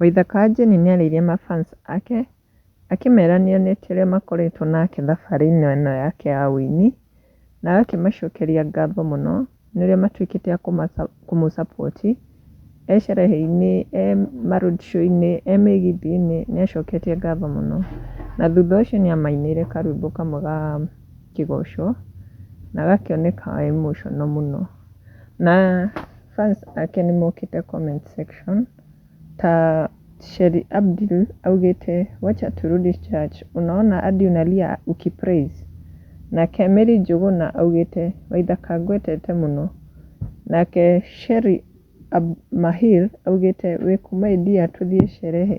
Waitha Kanjeni nĩarĩirie mafans ake akĩmera nĩonetie ũrĩa makoretwo nake thabarĩ-inĩ ĩno yake ya ũini na agakĩmacokeria ngatho mũno nĩ ũrĩa matuĩkĩte a kũmũ support e sherehe-inĩ, e ma road show -inĩ, e mĩgithi-inĩ nĩ acoketie ngatho mũno. Na thutha ũcio nĩ amainĩire karwĩmbo kamwe ga kĩgoco na agakĩoneka e emotional mũno. Na fans ake nĩ mokĩte comment section. Ta Sheri Abdul augĩte wacha turudi church unaona adi unalia ukipraise nake Mary Njuguna augĩte Waithaka ngwetete mũno nake Sheri Ab Mahir augĩte wĩkũ my dear tũthiĩ sherehe.